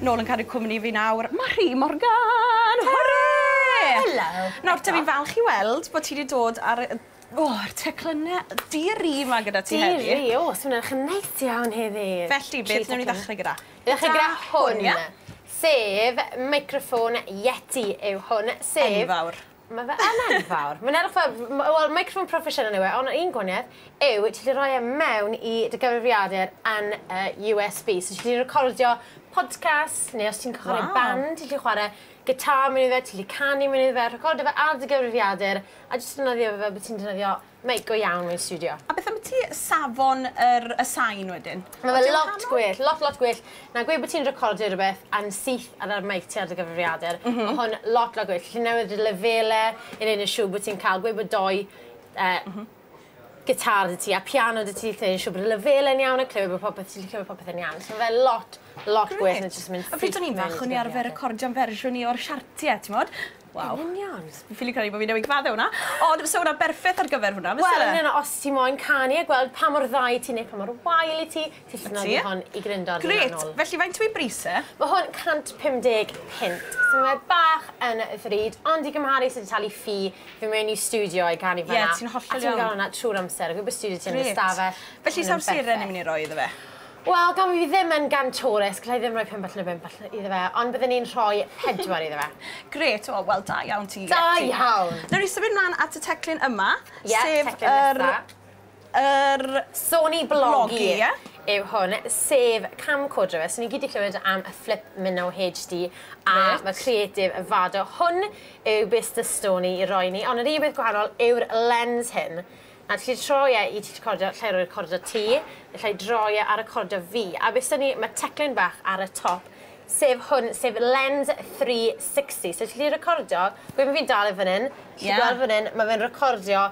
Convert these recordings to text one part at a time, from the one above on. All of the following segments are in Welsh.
Nôl yn caru cwmni fi nawr, Mari Morgan! Hwre! Helo! Nawr dw i'n falch i weld bod ti 'di dod ar y o yr teclynne di-ri 'ma gyda ti heddi. Di-ri? O so ma' wnna'n neis iawn heddi. Felly beth newn ni ddechre gyda? Dechre gyda hwn. Sef meicroffon Yeti yw hwn sef... Enfawr. Mae fe yn enfawr. Mae'n edrych fel, wel, microphone proffesiynol yw e, ond un gwaniaeth yw ti wedi rhoi e mewn i dy gyfrifiadur yn y USB. So ti wedi recordio podcast, neu os ti'n cychwyn wow. band, ti wedi chwarae gitar mewn i fe, ti wedi canu mewn i fe, recordio fe ar dy gyfrifiadur, a jyst defnyddio fe fel bod ti'n defnyddio Mate go iawn mewn stiwdio. A beth ambyti safon yr y sain wedyn? Ma' fe lot gwell, lot lot gwell na gweud bo' ti'n recordio rwbeth yn syth ar y mate ar dy gyfrifiadur. Ma' hwn lot lot gwell. Ti'n newid y lefele i neud yn siŵr bo' ti'n ca'l gweud bo' dou yy gitar 'da ti a piano 'da ti lle neu' siŵr bod y lefele'n iawn a clywed bo' popeth ti'n gallu clywed popeth yn iawn. So ma' fe lot lot gwell na jyst yn mynd syth mewn i dy gyfrifiadur. Grêt. A pryd o'n i'n fach o'n i arfer recordio'n fersiwn i o'r siartie t'mod? Waw. Yn union. Fi ffili credu bo' fi newydd gyfadde wnna. Ond fysa wnna berffeth ar gyfer hwnna fyse? Wel yn union os ti moyn canu a gweld pa mor dda wyt ti neu pa mor wael i ti ti allu nodi hon i grindod yn fanwl. Grêt! Felly faint yw ei bris e? Ma' hwn 150 punt so mae bach yn ddrud ond i gymharu sut ti'n talu ffi fyn' mewn i stiwdio i canu fynna... Ie ti'n hollol iawn. ...a ti'n ga'l wnna trw'r amser o gwmpas stiwdio ti yn dy stafell. Grêt. Felly sa'r seren ni myn' i roi iddo fe? Wel, gan fi ddim yn gantores, gallai ddim rhoi pump allan o bump iddo fe, ond byddwn i'n rhoi pedwar iddo fe. Grêt, o, wel, da iawn ti, Ietti. Da iawn! Nawr i symud mlaen at y teclyn yma, sef yr... yr... Sony Blogi yw hwn, sef camcorder fe. So ni gyd 'di clywed am y Flip Minnow HD a ma' creative y Vado. Hwn yw base 'da Sony i roi ni, ond yr un peth gwahanol yw'r lens hyn. At ti troi e i ti recordio lle recordio ti, lle droi e a recordio fi. A be sgen i, ma' teclyn bach ar y top, sef hwn, sef Lens 360. So ti gallu recordio, gwe ma' fi'n dal e fan 'yn, ti gallu gweld fan 'yn, ma' fe'n recordio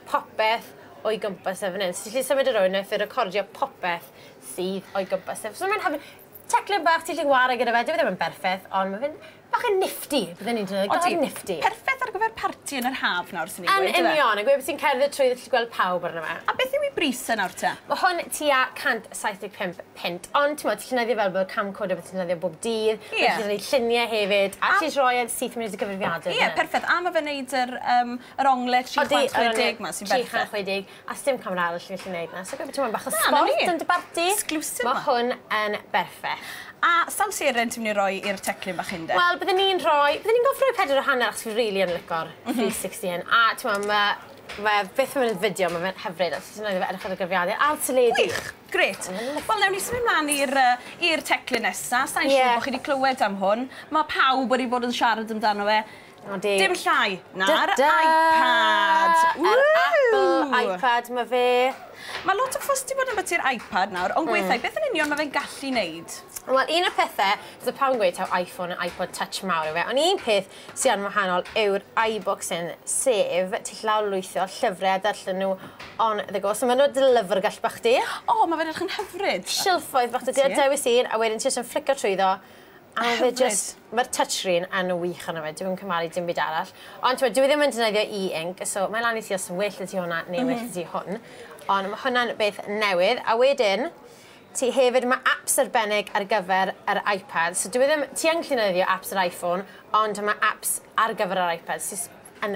popeth o'i gwmpas e fan 'yn. So ti gallu symud e rownd, neith e recordio popeth sydd o'i gwmpas e. So ma'n hyfryd. Teclyn bach ti gallu 'ware gyda fe, dyw e ddim yn berffeth, ond ma' fe'n Bach yn nifty, bydden i'n dweud, go nifty. Odi, perffeth ar gyfer parti yn yr haf nawr, swn i'n dweud. Yn union, a gwed bod ti'n cerdded trwyddo ti'n gweld pawb arno fe. A beth yw ei bris e nawr te? Mae hwn tua £175, ond t'mod, ti'n defnyddio fel bod camcorder a beth ti'n defnyddio bob dydd, ti'n gallu gwneud lluniau hefyd, a ti'n rhoi e syth mewn i dy gyfrifiadur. Ie, perffeth, a mae fe'n wneud yr onglau 360 'ma sy'n berffeth. Odi, yr onglau 360. A sdim camera arall ti'n gallu neud 'na so gweud bo' ti moyn bach o sbort... Na 'na ni. ...yn dy barti. Exclusive 'ma. Ma' hwn yn berffeth. A sawl seren ti myn' i roi i'r teclyn bach hyn 'de? Wel bydden i'n rhoi bydden i'n gof roi pedwar a hanner achos fi rili yn lico'r... M-hm. ...three sixty un a t'mo' ma' ma' e byth yn myn' yn fideo ma' fe'n hyfryd os ti'n edrych ar y cyfrifiadur a'r teledu. Gwych! Grêt. Ma' fe'n lyfli. Wel newn ni symud mlan i'r yy i'r teclyn nesa sai'n... Ie. ...siŵr bo' chi 'di clywed am hwn ma' pawb wedi bod yn siarad amdano fe O, di. Dim llai na'r iPad! Yr Apple iPad 'ma fe. Mae lot o fuss 'di bod ambiti'r iPad nawr, ond gweithiau, beth yn union mae fe'n gallu wneud? Wel, un o'r pethe, so pawb yn gweud taw iPhone a iPod Touch mawr yw e, ond un peth sy yn wahanol yw'r iBooks hyn, sef ti gallu lawrlwytho llyfrau a darllen nhw on the go. So maen nhw dy lyfrgell bach di. O, mae fe'n edrych yn hyfryd! Silffoedd bach 'da ti, a dewis un, a wedyn ti jyst yn fflico trwyddo, A ma' fe jyst... Hyfryd. ...ma'r touchscreen yn wych arno fe dwi'm yn cymharu dim byd arall. Ond t'mod dyw e ddim yn defnyddio e-ink so mae'n lan i ti os yn well 'dy ti hwnna neu well 'dy ti hwn. Ond ma' hwnna'n beth newydd a wedyn ti hefyd ma' aps arbennig ar gyfer yr Ipad so dyw e ddim... Ti yn gallu defnyddio aps yr Iphone ond ma' aps ar gyfer yr Ipad sy s- yn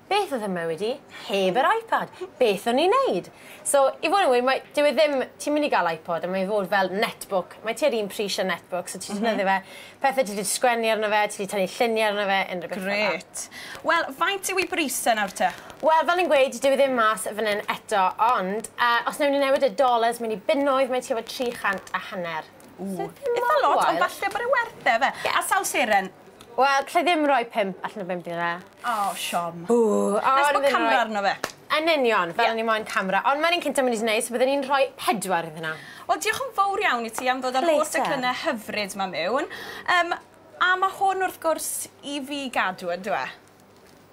Beth oedd fy mywyd i heb yr iPad? Beth o'n i'n neud? So, i fod yn wir, mae, dyw e ddim, ti'n mynd i gael iPod a mae fod fel netbook, mae tua'r un pris â netbook, so ti'n defnyddio fe, pethau ti 'di sgwennu arno fe, ti 'di tynnu lluniau arno fe, unrhyw beth fel 'na. Grêt. Wel, faint yw ei bris e nawr te? Wel, fel o'n i'n gweud, dyw e ddim mas fan hyn eto, ond yy os newn ni newid y dollars mewn i bunnoedd, mae tua fo tri chant a hanner. Ww, itha lot, ond falle bod e werth e, ife? A sawl seren? Wel, alla i ddim rhoi pump allan o bump i fe. O, siom. Ww, o, Nes bod camera arno fe. Yn union, fel o'n i moyn camera. Ond ma'r un cynta mynd i neis, so bydden i'n rhoi pedwar iddyn nhw. Wel, diolch yn fowr iawn i ti am ddod a'r holl declynne hyfryd 'ma miwn. Yym, a ma' hwn wrth gwrs i fi gadw yndyw e?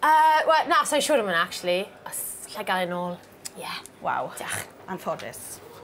Yy, wel, na, sai'n siŵr am wnna actually, os allai gael e nôl, ie. Waw. Diolch. Anffodus.